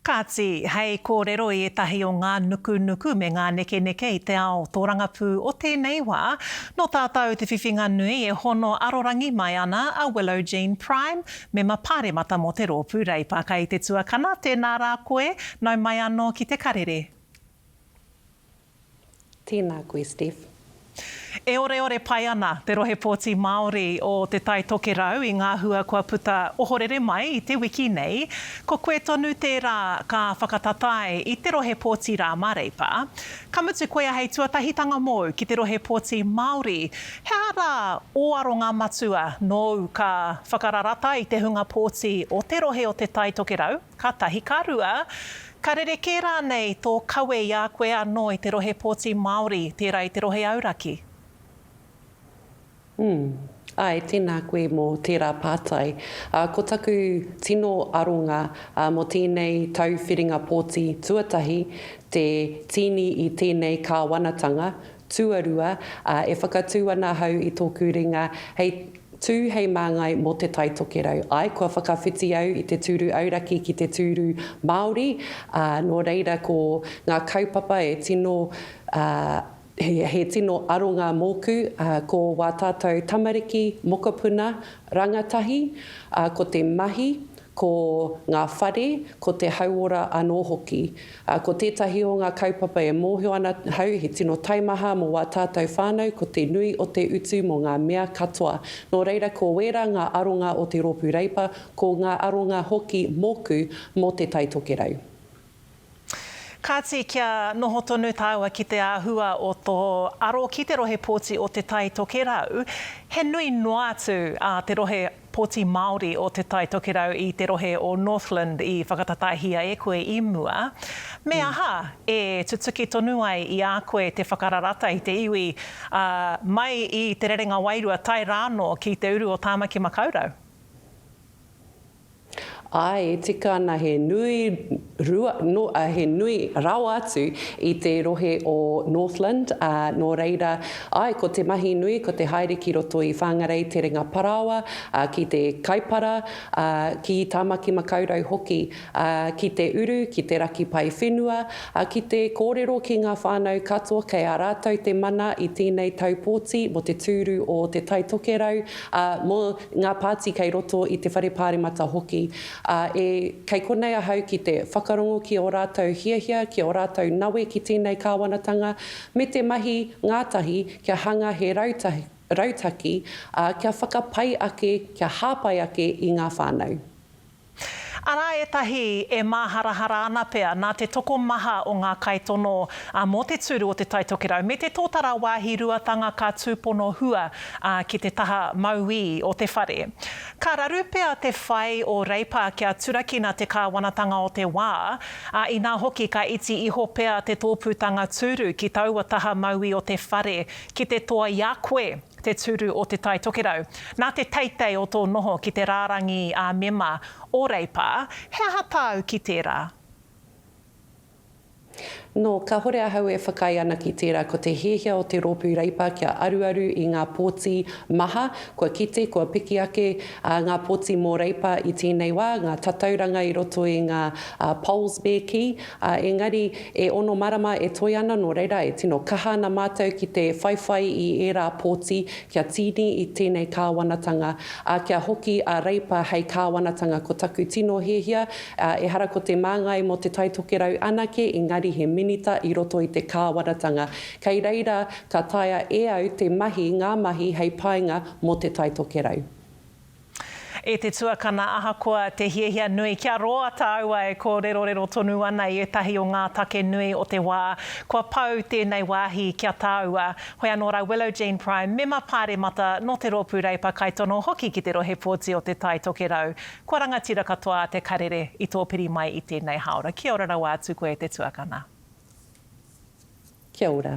Kāti, hei kōrero i ētahi o ngā nukunuku me ngā nekeneke i te ao tōrangapū o tēnei wā, nō tātau te whiwhinga nui e hono arorangi mai ana a Willow Jean Prime, Mema Pāremata mō te rōpū Reipa. Kai te tuakana, tēnā rā koe, nau mai anō ki te karere. Tēnā koe Steph. E oreore pai ana te rohe pōti Māori o Te Tai Tokerau i ngā hua kua puta ohorere mai i te wiki nei. Ko koe tonu tērā ka whakatatae i te rohe pōti rā mā Reipa. Ka mutu koia hei tuatahitanga mōu ki te rohe pōti Māori, he aha rā ō aronga matua nōu ka whakararata i te hunga pōti o te rohe o Te Tai Tokerau? Ka tahi, ka rua, ka rerekē rānei tō kawe i a koe anō i te rohe pōti Māori, tērā i te rohe auraki? Umm, āe, tēnā koe mō tērā pātai. Ā, ko taku tino aronga mō tēnei tau whiringa pōti tuatahi, te tīni i tēnei kāwanatanga, tuarua, ā, e whakatū ana ahau i tōku ringa hei Tū hei māngai mō Te Tai Tokerau. Āe, kua whakawhiti au i te tūru auraki ki te tūru Māori, ā, nō reira ko ngā kaupapa e tino, ā, he, he tino aronga mōku, ā, ko wā tātou tamariki, mokopuna, rangatahi, ā, ko te mahi, ko ngā whare, ko te hauora anō hoki. Ā, ko tētahi o ngā kaupapa e mōhio ana ahau he tino taimaha mō wā tātou whānau ko te nui o te utu mō ngā mea katoa. Nō reira ko wērā ngā aronga o te Rōpū Reipa, ko ngā aronga hoki mōku mō Te Tai Tokerau. Kāti, kia noho tonu tāua ki te āhua o tō aro ki te rohe pōti o Te Tai Tokerau, he nui noa atu ā te rohe Poti Māori o Te Tai Tokerau i te rohe o Northland i whakatatahia e koe i mua? Me aha e tutuki tonu ai i a koe te whakararata i te iwi, ā, mai i Te Rerenga Wairua tae rānō ki te uru o Tāmaki Makaurau? Āe, e tika ana he nui rua noa he nui rawa atu i te rohe o Northland, ā, nō reira, āe, ko te mahi nui ko te haere ki roto i Whangarei Terenga Parāoa, ā, ki te Kaipara, ā, ki Tāmaki Makaurau hoki, ā, ki te uru, ki te raki pae whenua, ā, ki te kōrero ki ngā whānau katoa kei a rātou te mana i tēnei tau pōti mō te tūru o Te Tai Tokerau, ā, mō ngā pāti kei roto i te Whare Pāremata hoki. Ā, e, kei konei ahau ki te whakarongo ki ō rātou hiahia, ki ō rātou nawe ki tēnei kāwanatanga, me te mahi ngātahi kia hanga he rautaki, rautaki, ā, kia whakapai ake, kia hāpai ake i ngā whānau. Arā ētahi e māharahara ana pea nā te tokomaha o ngā kaitono mō te tūru o Te Tai Tokerau me te tōtara wāhi ruatanga ka tūpono hua ki te taha mauī o te whare. Ka raru pea te whai o Reipa kia turakina te kāwanatanga o te wā, ā, inā hoki ka iti iho pea te tōpūtanga tūru ki taua taha mauī o te whare ki te toa i a koe te tūru o Te Tai Tokerau. Nā te teitei o tō noho ki te rārangi ā-mema o Reipa, he aha tāu ki tērā? Nō, kāhore ahau e whakaae ana ki tērā ko te hiahia o te Rōpū Reipa kia aruaru i ngā pōti maha kua kite, kua piki ake, ā, ngā pōti mō Reipa i tēnei wā, ngā tatauranga i roto i ngā polls me kī, ā, engari e ono marama e toe ana nō reira e tino kaha ana mātou ki te whaiwhai i ērā pōti kia tīni i tēnei kāwanatanga, ā, kia hoki a Reipa hei kāwanatanga ko taku tino hiahia Ehara ko te māngai mō Te Tai Tokerau anake engari he minita i roto i te kāwanatanga. Kei reira ka taea e au te mahi ngā mahi hei painga mō Te Tai Tokerau. E te tuakana ahakoa te hiahia nui kia roa tāu ai kōrerorero tonu ana i ētahi o ngā take nui o te wā kua pau tēnei wāhi ki a tāua. Hoi anō rā Willow Jean Prime mema pāremata nō te rōpū Reipa kaitono hoki ki te rohe pōti o Te Tai Tokerau. Kua rangatira katoa a Te Karere i tō piri mai i tēnei hāora. Kia ora rawa atu koe e te tuakana. Kia ora.